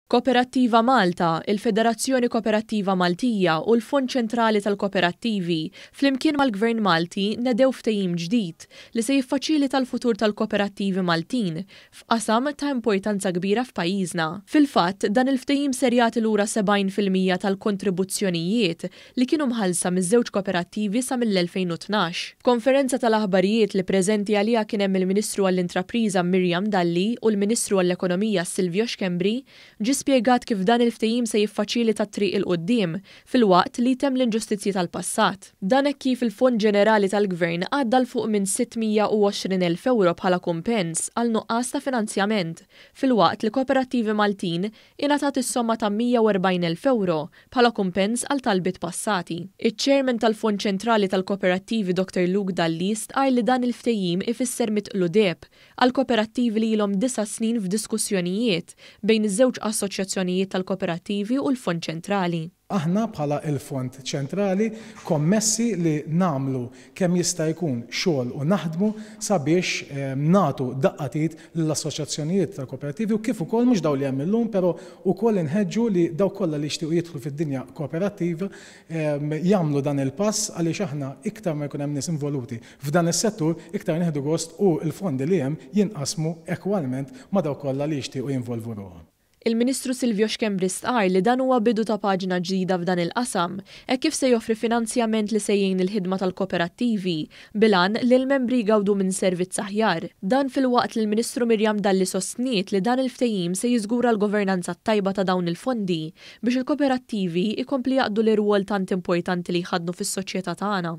Koperattiva Malta, il-Federazzjoni Koperattiva Maltija u l-Fond Ċentrali tal-Koperattivi, flimkien mal-Gvern Malti, nedew ftehim ġdid li se jiffaċilita l-futur tal-koperattivi Maltin f'qasam ta' importanza kbira f'pajjiżna. Fil-fatt, dan il-ftehim ser jagħti lura 70 fil-mija tal-kontribuzzjonijiet li kienu mħallsa miż-żewġ koperattivi sa mill-2012. F'konferenza tal-aħbarijiet li preżenti għaliha kien hemm il-Ministru għall-Intrapriża Miriam Dalli u l-Ministru għall-Ekonomija Silvio Schembri, ġie spjegat kif dan il-ftehim se jiffaċilita t-triq 'il quddiem filwaqt li jtemm l-inġustizzji tal-passat. Dan hekk kif il-Fond Ġenerali tal-Gvern għadda 'l fuq minn 620 elf ewro bħala kumpens għal nuqqas ta' finanzjament, filwaqt li koperattivi Maltin ingħatat is-somma ta' 140 elf ewro bħala kumpens għal talbiet passati. Iċ-Chairman tal-Fond Ċentrali tal-Koperattivi Doktor Luke Dalli stqarr li dan il-ftehim ifisser mitqlu deheb għall-koperattivi li ilhom disa' snin f'diskussjonijiet bejn iż-żewġ assoċjazzjonijiet tal-koperattivi u l-Fond Ċentrali. Aħna bħala il-Fond Ċentrali kommessi li nagħmlu kemm jista' jkun xogħol u naħdmu sabiex nagħtu daqqa t'id lill-assoċjazzjonijiet tal-kooperattivi u kif ukoll mhux dawn li hemm illum pero ukoll inħeġġu li dawk kollha li jixtiequ jidħlu fid-dinja kooperattiva jagħmlu dan il-pass għaliex aħna iktar ma jkun hemm nies involuti f'dan is-settur iktar nieħdu gost u l-fondi li hemm jinqasmu ekwalment ma' dawk kollha li jixtiequ jinvolvu ruħhom. Il-Ministru Silvio Schembri stqarr li dan huwa bidu ta' paġna ġdida f'dan il-qasam hekk kif se joffri finanzjament li se jgħin il-ħidma tal-kooperattivi bil-għan li l-membri jgawdu minn servizz aħjar. Dan filwaqt li l-Ministru Miriam Dalli sostniet li dan il-ftehim se jiżgura l-governanza t-tajba ta' dawn il-fondi biex il-kooperattivi jkompli jaqdu l-irwol tant importanti li jħaddnu fis-soċjetà tagħna.